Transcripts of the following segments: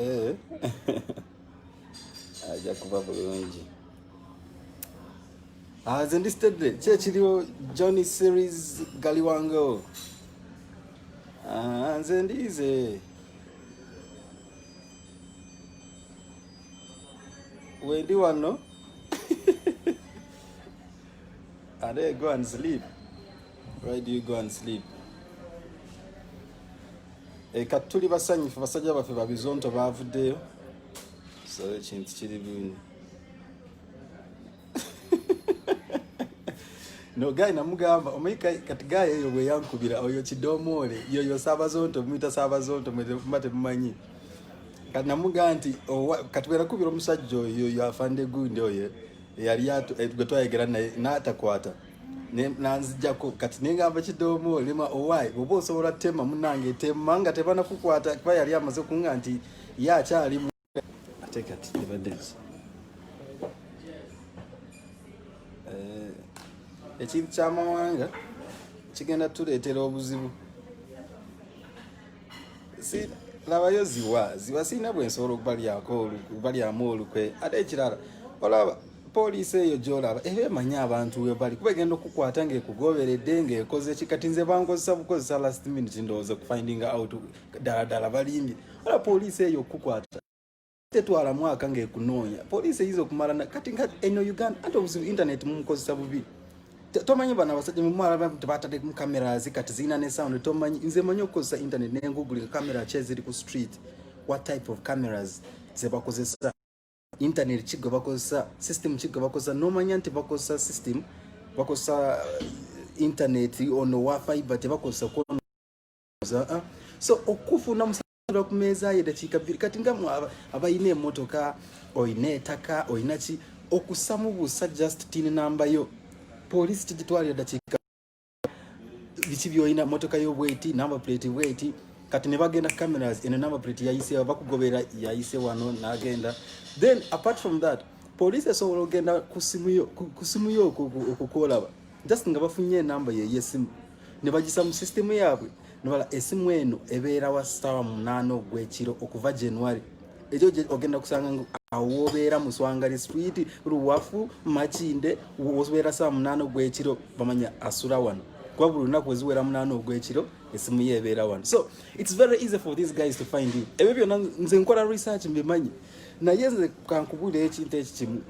Eh. ajja kuba bulungi ah, nze ndi stedde ki ekiriwo johnny series galiwango ah, nze ndiize wendi wano are go and sleep Why do you go and sleep? E, kati tuli basanyufu basajja baffe babizonto bavuddeyo so ekintu kiri bwini no guy namugamba omanyi kati guy eyo bweyankubira oyo kidomoole yoyo sabazonto muyita sabazonto mwetemuba temumanyi kati namugaa nti kati bwerakubira omusajja oyo yoyo afande gundi oyo eyali eh, gwe twayegera naye natakwata na nanzijako kati nengamba kidomo lema owaye oba osobola tema munange tema nga tebana kukwata kuba yali amaze kunga nti ye akyali mu ate kati tebadeki eh, ekintu kyamawanga kigenda tuletera obuzibu si labayo ziwa ziwa sirina bwensobola okubalyamu olukwe ate ekirala olaba poliisi eyo gyolaba eba emanyi abantu webali kuba egenda okukwata ngaekugoberedde ngaekoze ki kati nze bankozesa bukozesa last minute ndowooza okufinding out ddala ddala balimbye ola poliisi eyo okukukwata tetwala mwaka ngaekunoonya poliisi eyinza okumala kati eno uganda anti obuzibu internet mumukozesa bubi tomanyi bano abasajja mumwala tebatadde mu cameras kati zirina ne sound tomanyi nze manyi okukozesa internet nengugulika camera ki eziri ku street what type of cameras zebakozesa internet ki gwe bakozesa system ki gwe bakozesa nomanya nti bakozesa system bakozesa uh, internet ono wa fiber tebakozesa kuza ah. so okufuna musala ku meeza ye dakiika bbiri kati nga abalina emotoka olina etaka olina ki okusamu busa just tin namba yo polisi tigitwalira dakiika biki byolina motoka yobweti number plate bweti kati ne bagenda cameras eno number plate yayise bakugobera yayise wano nagenda then apart from that police esobola okugenda ku simu yo okukuolaba just nga bafunye enamba yeyesimu ne bagisa mu system yaabwe nobala esimu eno ebeera wa star munaana ogwekiro okuva january ekyo ogenda kusanga ngu awo wobeera muswangali street luwafu makinde wobeera saa munaana ogwekiro bamanya asula wano kuba buli lunaku weziwera munaana ogwekiro esimu ye ebeera wano so its very easy for these guys to find you ebyo byona nze nkola research mbimanyi naye nze kankubulira ekintu ekikimu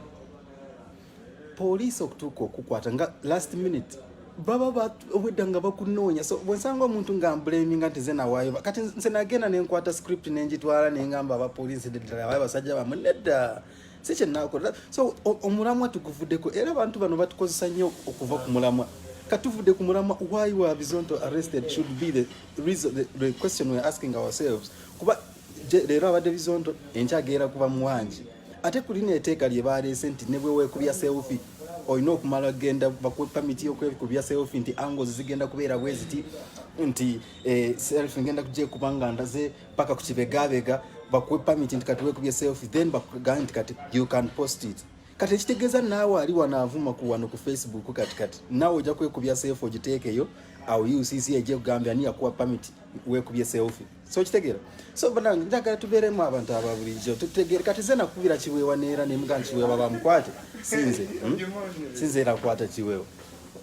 poliisi okutuuka okukwata nga last minute baba obwedda nga bakunoonya so bwensanga omuntu nga mbulemi nga nti zenawaayo kati nse nagenda nenkwata script nengitwala nengamba abapoliisi ddala abayo basajja bamwe nedda si kyenakola so omulamwa tuguvuddeko era abantu bano batukozesa nnyo okuva ku mulamwa katuvudde ku mulamwa why were bizonto arrested should be the, reason, the, the question we're asking ourselves kuba leero abadde bizonto enkyagera kuba muwangi ate ku lino eteeka lye baaleese nti ne bwe weekubya seefi olina okumala genda bakuwe pamiti yokwekubya self nti angles zigenda kubeera bweziti nti eh, self ngenda kujekuba nga ndaze paka ku kibegabega bakuwe pamiti nti kati wekubye self then bakugane nti kati you can post it kati ekitegeeza naawe ali wanaavuma ku wano ku facebook kati kati naawe ojja kwekubya self ogiteekeyo awo ucc ejekugambya ani yakuwa pamiti wekubye self so kitegera so bana njagala tubeeremu abantu aba bulijjo tutegere kati ze nakubira kiweewa neera ne mugaa kiweewa bamukwate sinze hmm? sinze era kwata kiweewa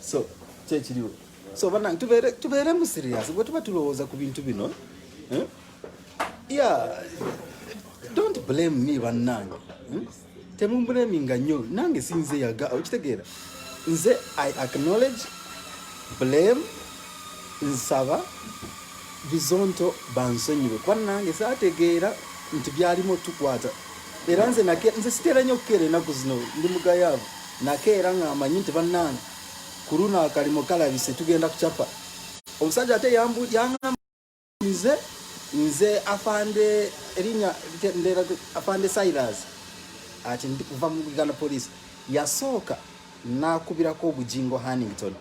so kyekiriwo so bana tubeeremu serious bwe tuba tulowooza ku bintu bino hmm? yeah don't blame me bannange hmm? temumbulaminga nnyo nange sinze yaga okitegeera nze i acknowledge blame nsaba bizonto bansonyiwe kuba nange saategeera nti byalimu otukwata era nze nze siteera nnyo okukeera enaku zino ndi mugayaavu nakeera nga amanyi nti bannange ku luno akalimo kalabise tugenda kucapa omusajja ate yangamba nze nze afande erinya ndera afande Silas ati ndi kuva mu Uganda police yasooka nakubirako obujingo Hannington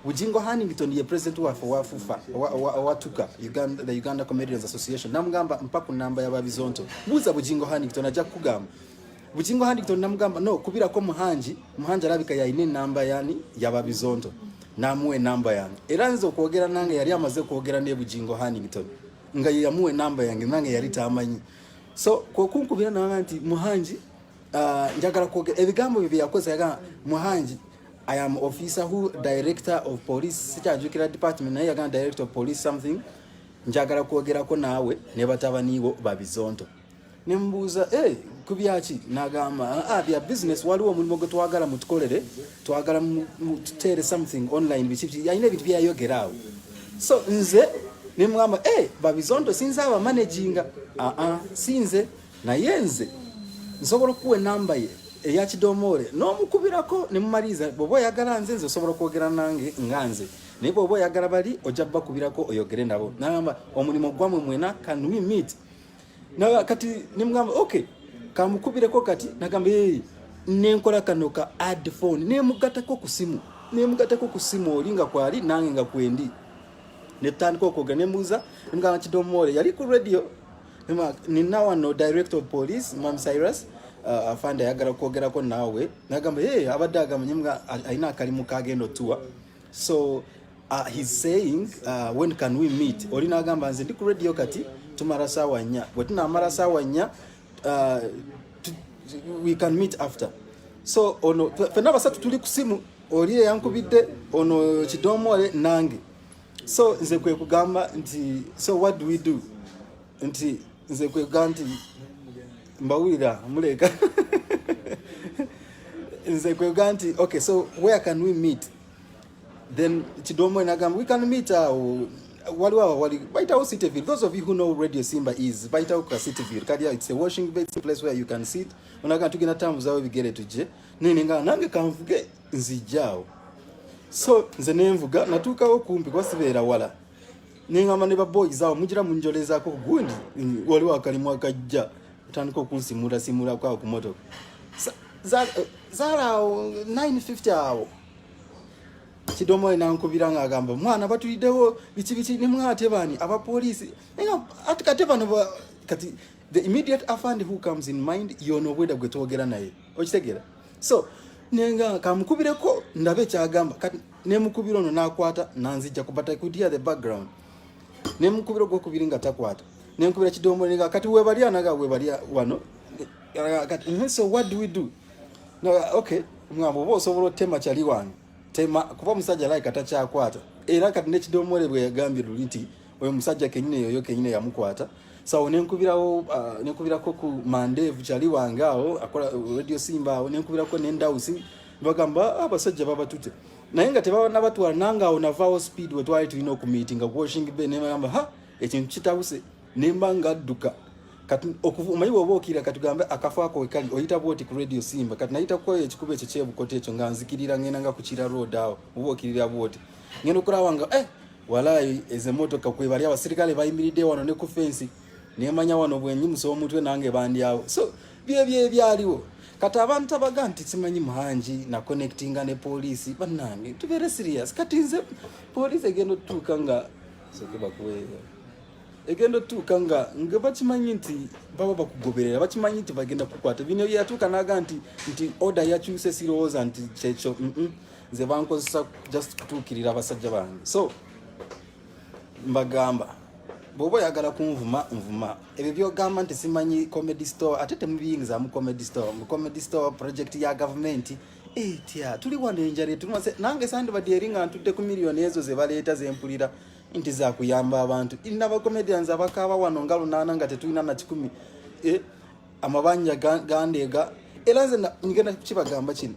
Bujingo Hannington ye president wa wa FUFA wa tuka Uganda the Uganda Comedians Association namugamba mpaku namba ya babizonto buza Bujingo Hannington aja kugamba Bugingo Huntington namugamba no kubira ko muhanji muhanji alabika yalina enamba yani yaba bizonto namuwa enamba yange era nze okwogera nange yali amaze kwogera ne Bugingo Huntington nga yamuwa enamba yange nange yali tamanyi so kwokunkubira nanga nti muhanji uh, njagala kwogera ebigambo bye byakoze yaga muhanji I am officer who director of police sikyajukira department naye yaga director of police something njagala kwogerako naawe ne batabaniibo babizonto ne mubuuza eh, ku byaki nagamba ah, ah, bya business waliwo omulimu gwe twagala mutukolere twagala mututeere something online biki alina ebintu byeyayogera awo so nze ne mugamba eh, babizondo sinze abamanaginga aa ah, ah, sinze naye nze nsobola okukuwa enamba ye eya kidomoole n'omukubirako ne mumaliriza bwoba oyagala nze nze osobola okwogera nange nga nze naye bwoba oyagala bali ojja bakubirako oyogere nabo nagamba omulimu gwamwe mwena can we meet na kati nimugamba okay kamukubireko kati nagamba hey, eh, nenkola kano ka add phone nemugatako ku simu nemugatako ku simu oli nga kwali nange nga kwendi netandika okwoga nemuuza nemugamba kidomoole yali ku radio nina wano director of police mam cyrus uh, afande ayagala kwogerako naawe nagamba hey, abadde agamanye alina akalimu kagenda otuwa so uh, he's saying uh, when can we meet oli nagamba nze ndi ku radio kati tumara sawa nya bwe tunamara sawa nya uh, we can meet after so ono fena basatu tuli ku simu oli eyankubidde ono kidomole nange so nze kwe kugamba nti so what do we do nti nze kwega nti mbawulira muleeka nze kwega nti okay so where can we meet then kidomo enagamba we can meet awo uh, waliwo awo wali bayitawo cityville those of you who know radio simba is bayitawo ka cityville kati it's a washing basin place where you can sit onaga tugenda tambuzawo ebigere tujje nene nga nange kanvuge nzijjaawo so nze nenvuga natuukawo kumpi kuba sibeera wala nengamba ne baboys awo mugira munjolezako gundi mm, waliwo akalimu akajja otandika okunsimula simulako awo ku motoka zalaawo eh, 950 awo kidomoyo nankubira nga agamba mwana batulidewo biki biki nemwatebani abapoliisi ati kate bano kati the immediate afand who comes in mind yono obweda gwe twogera naye okitegera so nenga kamukubireko ndabe kyagamba nemukubira ono nakwata nanzijja ku but i could hear the background nemukubira ogwokubiri nga takwata nenkubira kidomola nga kati webali anaga webali wano kati mm-hmm, so what do we do no, okay mwambo oba osobola otema kyali wange tema kuba omusajja like atakyakwata era kati nekidomole bweyagambye luli nti oyo musajja kenyine yoyo kenyine yamukwata sawo nenkubirawo uh, nenkubirako ku mandevu kyali wange awo akola uh, radio simba awo nenkubirako nendawusi bagamba ah, abasajja babatute naye nga tebanabatwala nange awo navaawo speed wetwali tulina okumiitinga kuwashing be nemagamba ha ekintu kitabuse nemba nga adduka omanyi woba okira katugambe akafo ako wekali oyita bwoti ku radio simba kati nayita kukweyo ekikuba ekyo kyebukoto ekyo nga nzikirira ngenda nga kukira road awo oba okirira bwoti ngenda okulaba nga eh, Walai eze motoka kwe bali abasirikale bayimiridde wano ne ku fence nemanya wano bwenyi muso omutwe nange bandi awo so bye bye byaliwo kati abantu abaga nti simanyi muhangi na connectinga ne poliisi bannange tubeere serious kati nze poliisi egenda otutuuka nga sokebakuweeyo egenda otuuka nga nga bakimanyi nti baba bakugoberera bakimanyi nti bagenda kukwata bino yatuuka naga nti nti order yakyuse sirowooza nti kyekyo mm -mm. nze bankozesa just kutuukirira abasajja bange so mbagamba bwoba oyagala kunvuma nvuma ebyo byogamba nti simanyi comedy store ate temubiyingizamu comedy store mu comedy store project ya gavumenti etya tuli wano enjala etunase nange sandibadde eri nga ntudde ku miliyoni ezo zebaleeta zempulira nti zakuyamba abantu irina abacomedians abakaaba wano nga lunaana nga tetulina na kikumi eh, amabanja gandeega era nze ngenda kukibagamba kino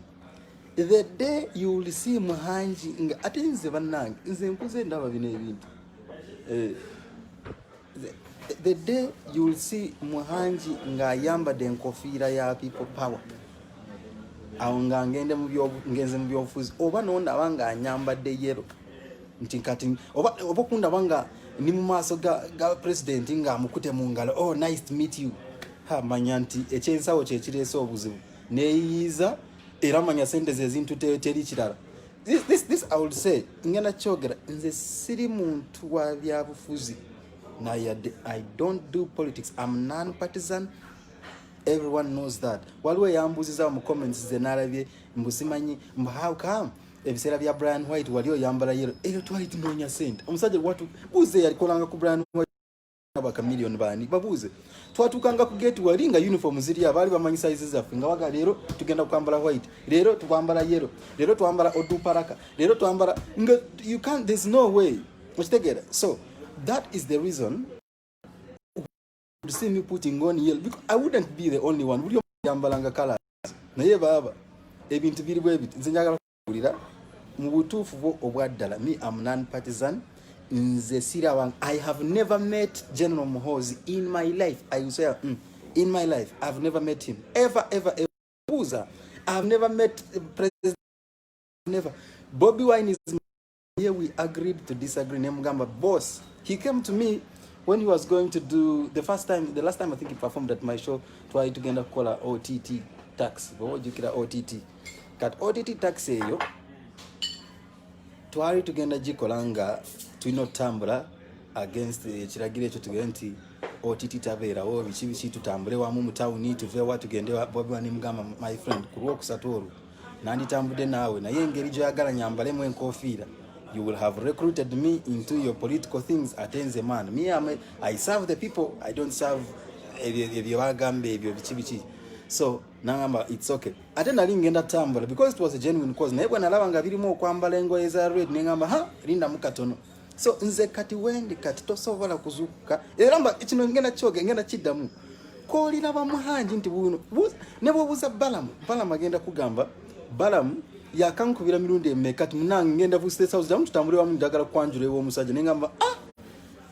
the day you will see muhangi nga ate nze bannange nze nkuze ndaba bino ebintu eh, the day you will see muhangi ng'ayambadde enkofiira ya people power awo nga ngende ngenze mu byobufuzi oba nondaba ng'anyambadde yero nti kati oba okundaba nga ni mu maaso ga president ng'amukute mu ngalo oh nice to meet you ha manya nti ekyensawo kyekireese obuzibu neyiyiza era manya sente zezintu teri kirala this, this, this I will say ngenda kyogera nze siri muntu wa byabufuzi nayadde I don't do politics I'm non partisan everyone knows that waliwo eyambuziza mu comments ze nalabye mbusimanyi mbu how come ebiseera bya Brian White wali oyambala yero eyo twali tunoonya sente omusajja watu buze yalikolanga ku Brian White abakamiliyoni bani babuuze twatuukanga ku gate wali nga uniform ziri abaali bamanyi size zaffe nga waga leero tugenda kwambala white leero twambala yellow leero twambala oduparaka leero twambala nga you can't there's no way okitegeera so that is the reason to see me putting on yellow because i wouldn't be the only one buli yambalanga colors naye baaba ebintu biri bwebiti nze njagala kulira mu butuufu bwo obwaddala me am non partisan nze siraba i have never met general muhozi in my life i will say mm, in my life i have never met him ever ever ever buuza i have never met president never bobi wine is Here we agreed to disagree. Nemugamba, boss, he came to me when he was going to do the first time, the last time I think he performed at my show, try to get a caller OTT tax. What you kira OTT? Kat OTT tax eyo. Twali tugenda gikola nga tulina otutambula against ekiragiro ekyo tugere nti OTT tabeerawo biki biki tutambule wamu mu tawuni tuveewa tugende bobi wani mugamba my friend ku lwokusatu olwo nanditambudde naawe naye engeri gyoyagala nyambalemu enkofiira you will have recruited me into your political things ate nze man me am a, i serve the people i don't serve ebyo bagamba ebyo biki biki so nangamba it's okay ate nali ngenda tambula because it was a genuine cause naye bwenalaba nga birimu okwambala engoye za red nengamba ha lindamu katono so nze kati wendi kati tosobola kuzukuka era mba kino ngenda kyoge ngenda kiddamu kolira bamuhanji nti buno ne bwobuza balamu balamu agenda kugamba balamu yakankubira mirundi emeka ti munange ngenda ku state house jamu tutambule wamu njagala kwanjula ewa omusajja ne ngamba ah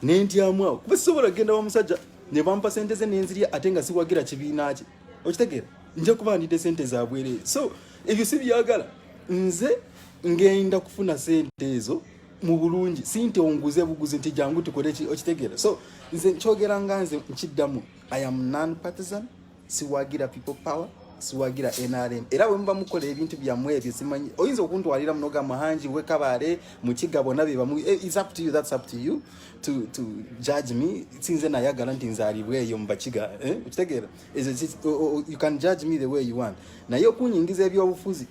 nentyamu awo kuba sisobola kugenda wa musajja ne bampa sente ze nenzirya ate nga siwagira kibiina kye okitegeera nja kuba ndidde sente zabwerere so ebyo si byagala nze ngenda kufuna sente ezo mu bulungi sinte onguze buguzi nti jangu tukole okitegera so nze nkyogera nga nze nkiddamu i am non partisan siwagira people power siwagira nrm era bwe muba mukola ebintu byammwe ebyo simanyi oyinza okuntwalira munoga muhangi wekabaale mukiga bona bebamu eh, is up to you that's up to you to, to judge me sinze nayagala nti nzalibwa eyo mubakiga eh? okitegeera you can judge me the way you want naye okunyingiza ebyobufuzi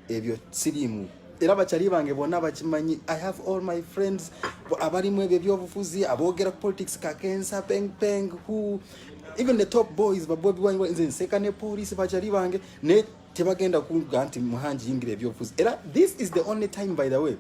ebyo sirimu era bakyali bange bonna bakimanyi i have all my friends abalimu ebyo ebyobufuzi aboogera politics kakensa peng peng who even the top boys babobi wange nze nseka ne police bakyali bange ne tebagenda kuga nti muhangi yingira ebyobufuzi era this is the only time by the way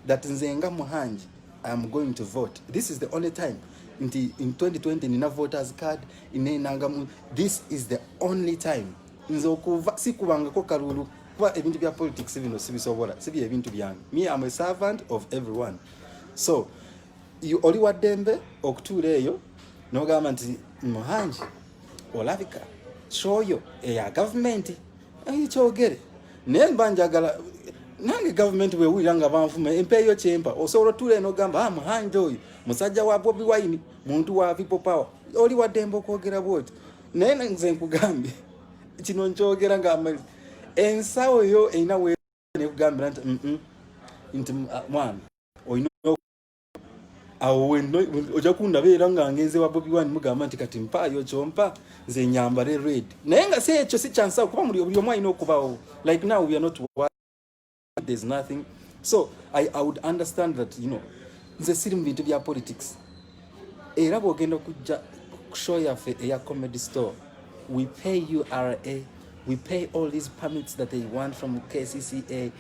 that nze nga muhangi i am going to vote this is the only time nti in 2020 nina voters card inenangamu this is the only time nze okuva sikubangako kalulu kuba ebintu bya politics bino sibisobola sibi ebintu byange me am a servant of everyone so oli wa ddembe okutuula eyo nogamba nti muhangi olabika kyoyo eya gavumenti ekyogere naye mba njagala nange gavumenti bwewulira nga banvuma empeeyo kyempa osobola otuula eno ogamba ah, muhangi oyo musajja wa bobi wine muntu wa people power oli wa ddembe okwogera bwoti naye nze nkugambye kino nkyogera nga ensawo yo erina nekugambira nti nti ah, mwana olina awo weno ojja kundaba era nga ngenze wa bobi wani mugamba nti kati mpaayo kyompa nze nyambale red naye nga si ekyo si kyansawo kuba muli obuli omu alina okubawo like now we are not there's nothing so I, I would understand that you know nze siri mu bintu bya politics era bwogenda okujja show yaffe eya comedy store we pay you ra we pay all these permits that they want from kcca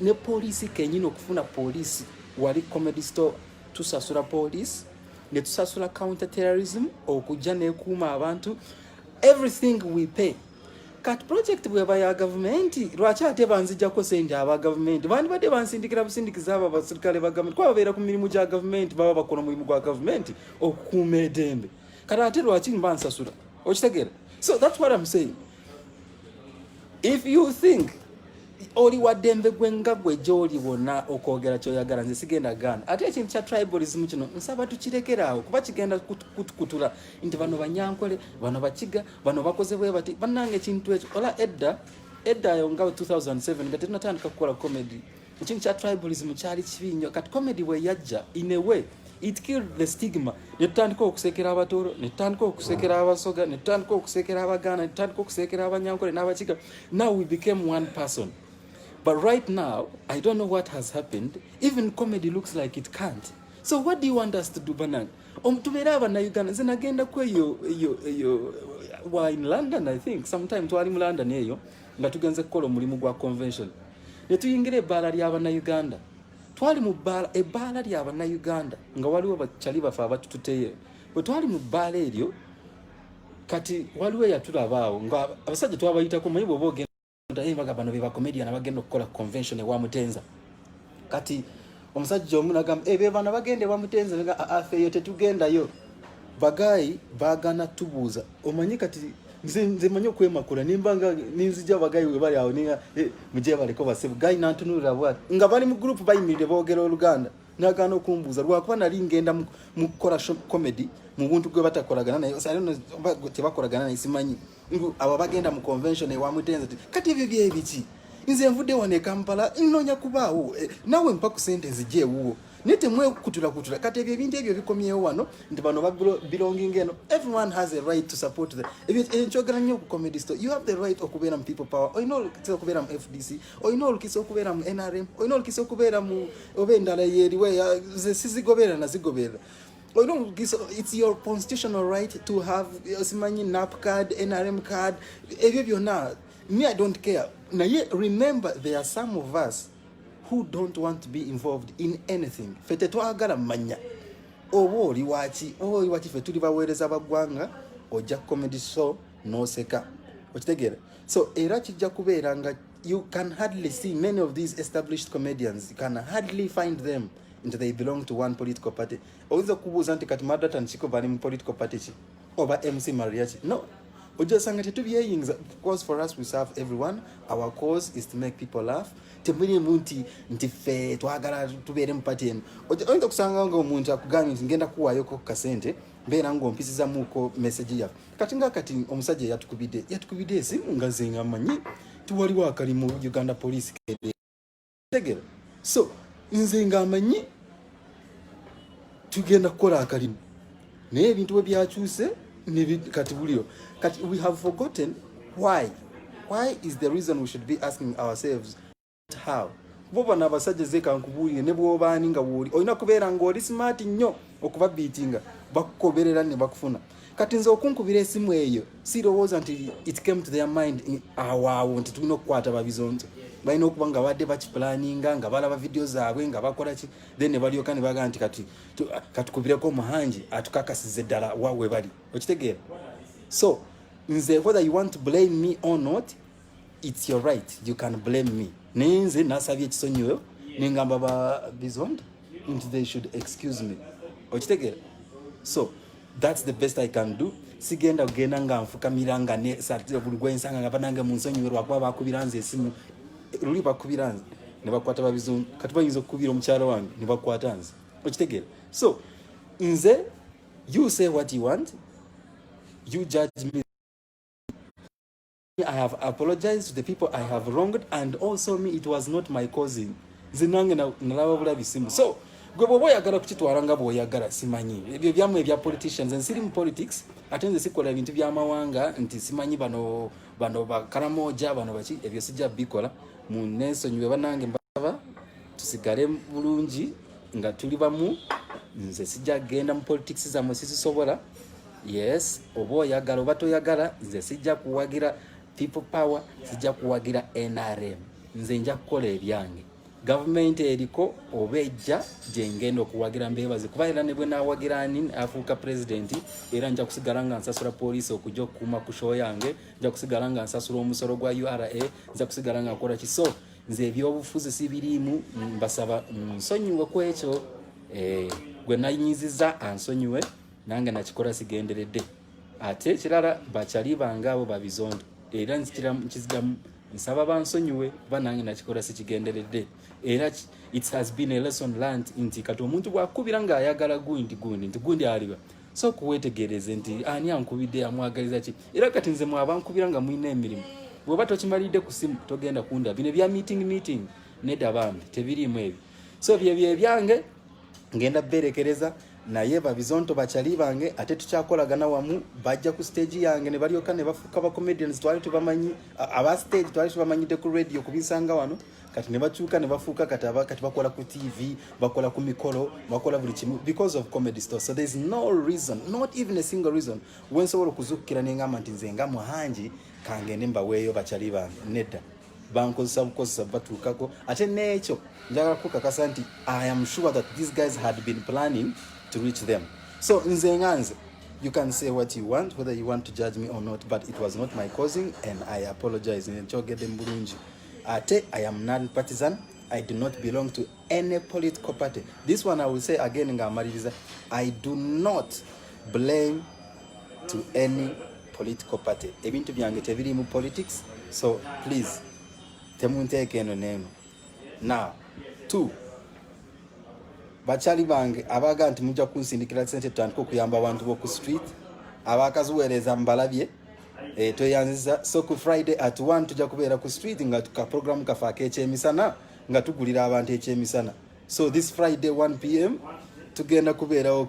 ne poliisi kenyini okufuna poliisi wali comedy store tusasula poliisi netusasula counter terrorism okujja nekuuma abantu everything we pay kati project bweba ya gavumenti lwaki ate banzijako sente aba gavumenti bandibadde bansindikira busindikiza abo abasirikale ba gavumenti kuba babeera ku mirimu gya gavumenti baba bakola omulimu gwa gavumenti okukuuma edembe kati ate lwaki nibansasula okitegera so thats what am saying if you think oli waddembe gwe nga gwe gyoli wonna okwogera kyoyagala nze sigenda gaana ate ekintu kya tribalism kino nsaba tukirekeraawo kuba kigenda kutukutula nti bano banyankole bano bakiga bano bakoze bwe bati banange ekintu ekyo ola edda edda ayo nga 2007 nga tenatandika kukola comedy ekintu kya tribalism kyali kibi nnyo kati comedy bwe yajja in a way it killed the stigma netutandika okusekera abatooro netutandika okusekera abasoga netutandika okusekera abaganda netutandika okusekera abanyankole n'abakiga now we became one person but right now i don't know what has happened even comedy looks like it can't so what do you want us to do banange omutubeera abanauganda nze nagenda ku eyo eyo eyo wa in london i think sometime twali mu london eyo nga tugenze kukola omulimu gwa convention ne tuyingira ebbaala ly'abanauganda twali mu bbaala ebbaala ly'abanauganda nga waliwo bacali bafe abatututeyo bwe twali mu bbaala eryo kati waliwo eyatulabaawo nga abasajja twabayitako maye bwoba ogenda Tayimbaga bano be bakomedian abagenda okukola convention ewa Mutenza. Kati omusajja omu nagamba ebyo eh, bano bagenda ewa Mutenza nga ah, ah, afeeyo tetugendayo. Bagayi bagana tubuuza omanyi kati nze nze manyi okwemakula nimba nga ninzija bagayi we bali awo ninga eh, mujye baliko basibu gayi nantunulira bwati nga bali mu group bayimirire boogera oluganda nagaana okumbuuza lwakuba nali ngenda mu kukola comedy mu buntu gwe batakolagana naye tebakolagana naye simanyi Ngu abo bagenda mu convention ewa mutenze ti kati ebyo bye biki? Nze nvude wane Kampala nnonya kubaawo e, nawe mpa ku sente nzije ewuwo. Naye temwekutula kutula kati ebyo ebintu ebyo bikomyewo wano nti bano ba belonging eno. Everyone has a right to support the ebyo enkyogera eh, nnyo ku comedy store. You have the right okubeera mu people power. Olina olukisa okubeera mu FDC. Olina olukisa okubeera mu NRM. Olina olukisa okubeera mu oba endala yeeriwe. Ze sizigobeera na zigobeera. Oh, no, it's your constitutional right to have osimanyi nap card nrm card ebyo byonna me i don't care naye remember there are some of us who don't want to be involved in anything fe tetwagala manya oba oli waki oba oli waki fe tuli baweereza baggwanga ojja comedy show noseka okitegeera so era kijja kubeera nga you can hardly see many of these established comedians you can hardly find them nti they belong to one political party oyinza okubuuza nti kati madata nkiko bali mu political party ki oba mc maria ki no ojja osanga tetubyeyingiza because for us we serve everyone our cause is to make people laugh temulimu nti nti ffe twagala tubeere mu party emu oyinza okusanga nga omuntu akugambye nti ngenda kuwaayoko ku kasente mbeera ngaompisizamuko message yaffe kati nga kati omusajja yatukubidde yatukubidde esimu nga zenga manyi tiwaliwo akali mu uganda police kede tegera so nze nga amanyi tugenda kukola akalimu naye ebintu bwe byakyuse kati buliro kati we have forgotten why why is the reason we should be asking ourselves how bo bano abasajja zeka nkubuulire ne bwobaani nga wooli olina kubeera ng'oli smart nnyo okubabiitinga bakukoberera ne bakufuna kati nze okunkubira esimu eyo sirowooza nti it came to their mind awaawo nti tulina okukwata babizonto balina okuba nga badde bakipulaninga nga balaba vidiyo zaabwe nga bakola ki then ne balyoka ne bagaa nti kati katukubireko omuhangi atukakasiza eddala wawe bali okitegeera so nze whether you want to blame me or not It's your right. You can blame me. Naye nze nasabye ekisonyiwo nengamba ba bizond nti they should excuse me. Okitegera? So that's the best I can do. Sigenda kugenda nga nfukamira nga ne satira buli gwensanga nga banange mu nsonyiwe lwakuba bakubira nze esimu luli bakubira nze ne bakwata ba bizond kati bayinza okukubira omukyala wange ne bakwata nze. Okitegera? So nze you say what you want you judge me I have apologized to the people I have wronged and also me it was not my cousin nze nange nalaba bulabi simu so gwe bwoba oyagala kukitwala nga bwoyagala simanyi ebyo byamwe ebya politicians nze siri mu politics ate nze sikola ebintu byamawanga nti simanyi bano bano bakaramoja bano baki ebyo sijja bikola mu nensonyiwe banange mbasaba tusigale bulungi nga tuli bamu nze sijja genda mu politics zamwe sizisobola yes oba oyagala oba toyagala nze sijja kuwagira people power sijja kuwagira nrm nze nja kukola ebyange gavumenti eriko oba ejja gyengenda okuwagira mbebaze kuba era ne bwe nawagira ani afuuka pulezidenti era nja kusigala nga nsasula poliisi okujja okukuuma ku sho yange nja kusigala nga nsasula omusolo gwa ura nja kusigala nga nkola kiso nze ebyobufuzi sibiriimu mbasaba nsonyiwe ku ekyo eh, gwe nayinyiziza ansonyiwe nange nakikola sigenderedde ate ekirala bakyali bange abo babizondo era nkizidamu nsaba bansonyiwe kuba nange nakikola sikigenderedde era it has been a lesson learned nti kati omuntu bwakubira ng'ayagala gundi gundi nti gundi aliba so kuwetegereze nti ani ankubidde amwagaliza ki era kati nze mwabankubira nga mulina emirimu bweoba tokimalidde ku simu togenda kunda bino ebya meeting meeting neda bambi tebiriimu ebyo so byebyo ebyange ngenda berekereza naye babizonto bakyali bange ate tukyakolagana wamu bajja ku stage yange ne balyoka ne bafuuka ba comedians twali tubamanyi aba stage twali tubamanyidde ku radio kubisanga wano kati ne bakyuka ne bafuuka kati aba kati bakola ku tv bakola ku mikolo bakola buli kimu because of comedy store so there's no reason not even a single reason wensobola okuzukkira nengamba nti nze nga muhangi kangende mbaweeyo bakyali bange nedda bankozesa bukozesa batuukako ate n'ekyo njagala kukakasa nti i am sure that these guys had been planning to reach them so nze nga nze you can say what you want whether you want to judge me or not but it was not my causing and i apologize nkyogedde mu bulungi ate i am non partisan i do not belong to any political party this one i will say again ngaamaliriza i do not blame to any political party ebintu byange tebiri mu politics so please temunteeka eno neeno now two bakyali bange abaga nti mujja kunsindikira sente tutandika okuyamba abantu boku street abakaziweereza mubalabye e, tweyanziza so ku friday at one tujja kubeera ku street nga kaprogramu kafe akekyemisana nga tugulira abantu ekyemisana so this friday 1 pm tugenda kubeerawo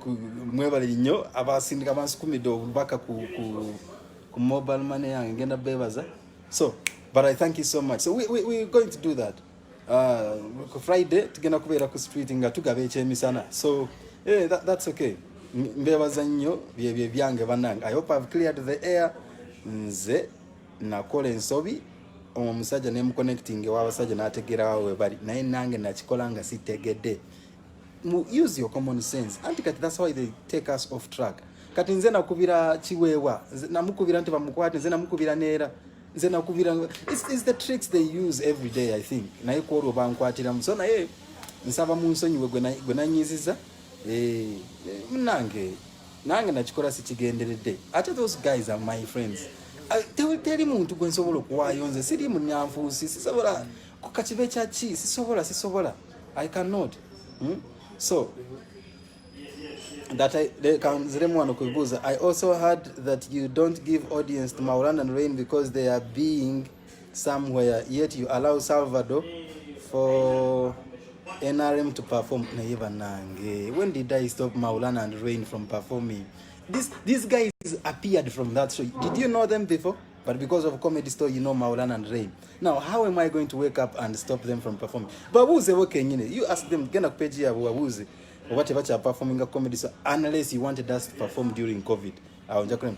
mwebale nnyo abasindika bansukumidde obubaka ku, ku, ku mobile money yange ngenda bebaza so but i thank you so much so we, we, we're going to do that uh, ku friday tugenda kubeera ku street nga tugaba ekyemisana so yeah, that, that's okay mbebaza nnyo byebye byange banange i hope i've cleared the air nze nakola ensobi omusajja ne muconnecting ewabasajja nategeerawo webali naye nange nakikola nga sitegedde use your common sense anti kati that's why they take us off track kati nze nakubira kiweewa namukubira nti bamukwate nze namukubira neera nze nakubira is the tricks they use every day i think naye kwolwo bankwatiramu so naye nsaba munsonyiwe gwe nanyiziza eh, eh, munange nange nakikola sikigenderedde ate those guys are my friends uh, teri muntu gwe nsobola okuwaayo nze siri munyanfuusi sisobola kukakibe kyaki sisobola sisobola i cannot hmm? so that I kanziremu wano kuibuuza i also heard that you don't give audience to maulan and rain because they are being somewhere yet you allow Salvador for NRM to perform naye banange when did I stop Maulana and Rain from performing this these guys appeared from that show did you know them before but because of comedy store you know Maulana and Rain now how am I going to wake up and stop them from performing babuze bo kenyine you ask them genda ku page yabo babuze oba tebakya performing comedy so unless you wanted us to perform during covid awo njakulema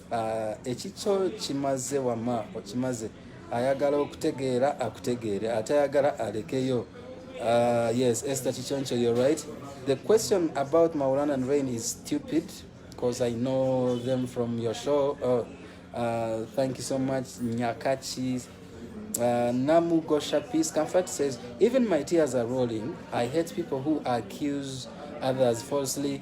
Ah, ekikyo kimaze wama okimaze ayagala okutegeera akutegeere atayagala alekeyo ah, yes ester kikyoncho you're right the question about maulan and rain is stupid because i know them from your show oh, uh, thank you so much nyakachi Uh, Namu Gosha Peace Comfort says, Even my tears are rolling. I hate people who accuse others falsely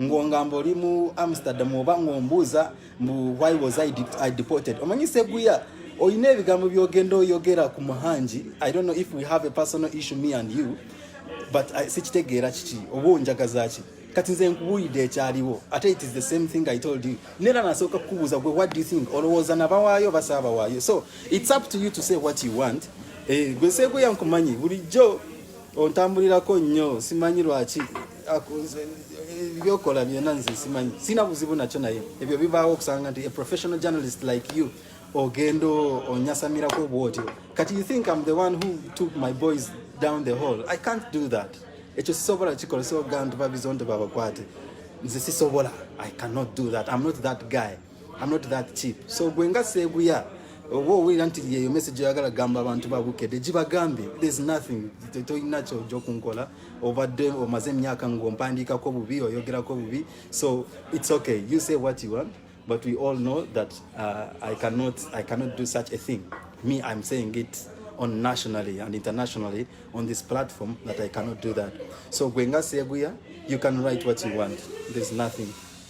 ng'ongamba oli mu amsterdam oba ng'ombuuza mbu why was I, I deported omanyi seguya olina ebigambo byogenda oyogera ku muhangi i don't know if we have a personal issue me and you but sikitegeera kiki oba onjagazaki kati nze nkubuulidde ekyaliwo ate it is the same thing i told you neera nasooka kukubuuza gwe what do you think olowooza nabawaayo basaabawaayo so it's up to you to say what you want eh, gwe seeguya nkumanyi bulijjo ontambulirako nnyo simanyi lwaki byokola byona nze simanyi sina buzibu nakyo naye ebyo bibaawo okusanga nti a professional journalist like you ogenda onyasamirako obwotyo kati you think am the one who took my boys down the hall i can't do that ekyo sisobola kikola sogantu babizondo babakwate nze sisobola i cannot do that i'm not that guy I'm not that cheap. So gwe nga seeguya oba owulira nti yeyo message oyagala gamba abantu ba bukede gibagambe there's nothing tolina kyoja okunkola obadde omaze emyaka ng'ompandiikako bubi oyogerako bubi so it's okay you say what you want but we all know that uh, I, cannot, I cannot do such a thing me I'm saying it on nationally and internationally on this platform that I cannot do that so gwe nga seeguya you can write what you want there's nothing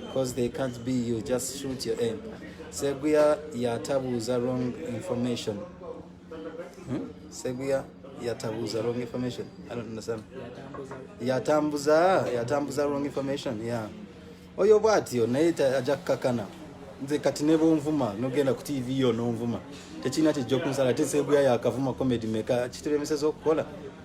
because they can't be you just shoot your aim seguya yatabuuza wrong information hmm? seguya yatabuuza wrong information i don't understand yatambuza yatambuza wrong information ya yeah. oyo bwatyo naye ajja kukakana nze kati ne bonvuma nogenda ku tv yo nonvuma tekirina kijja okunsala te seguya yakavuma comedy meka kitulemeseza okukola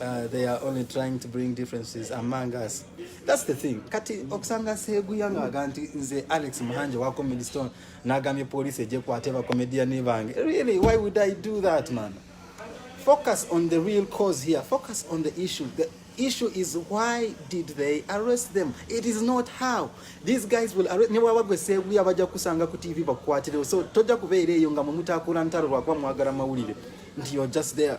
Uh, they are only trying to bring differences among us that's the thing kati okusanga seguya ngaaga nti nze alex muhanje wa comedy stone nagambye police ejekwate bacomediani bange really why would i do that man focus on the real cause here focus on the issue the issue is why did they arrest them it is not how these guys will arrest ne bwaba gwe seguya bajja kusanga ku tv bakukwatirewo so tojja kubeera eyo nga mumutaakula ntalo lwakuba mwagala mawulire nti you're just there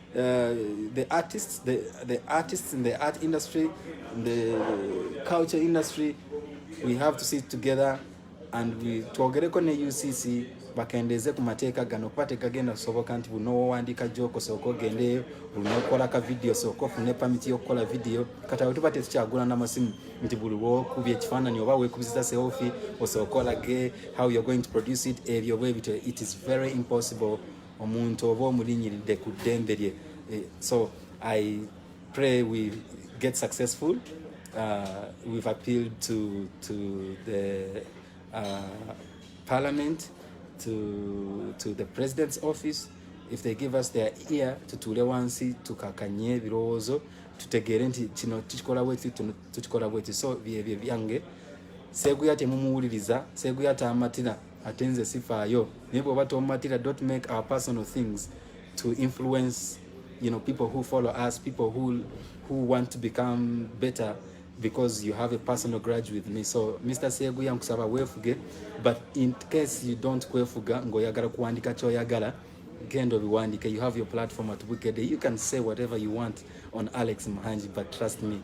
Uh, the artists, the, the artists in the art industry, in the culture industry, we have to sit together and we twogereko ne UCC bakendeeze ku mateeka gano kuba tegagenda kusoboka nti buno wowandiika joko sooka ogendeyo bunokola ka vidiyo sooka ofune pamiti yokukola vidiyo kati awo tuba tetukyagula namasimu nti buli wokubya ekifaananyi oba wekubiziza seofi osooka olage how you're going to produce it ebyo bwebityo it is very impossible omuntu oba omulinyiridde ku ddembe lye eh, so i pray we get successful uh, we've appealed to, to the uh, parliament to, to the president's office if they give us their ear tutuule wansi tukakanye ebirowoozo tutegeere nti kino tukikola bwekiti tukikola bwekiti so byebyo byange seeguya temumuwuliriza seeguya taamatira ate nze sifaayo naye bwoba tomumatira don't make our personal things to influence you know people who follow us people who who want to become better because you have a personal grudge with me so mr seguya nkusaba wefuge but in case you don't kwefuga ngoyagala kuwandika kyoyagala genda obiwandike you have your platform at wicked you can say whatever you want on alex muhangi but trust me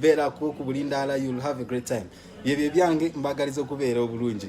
beera ku ku bulindaala you'll have a great time byebyo ebyange mbagaliza okubeera obulungi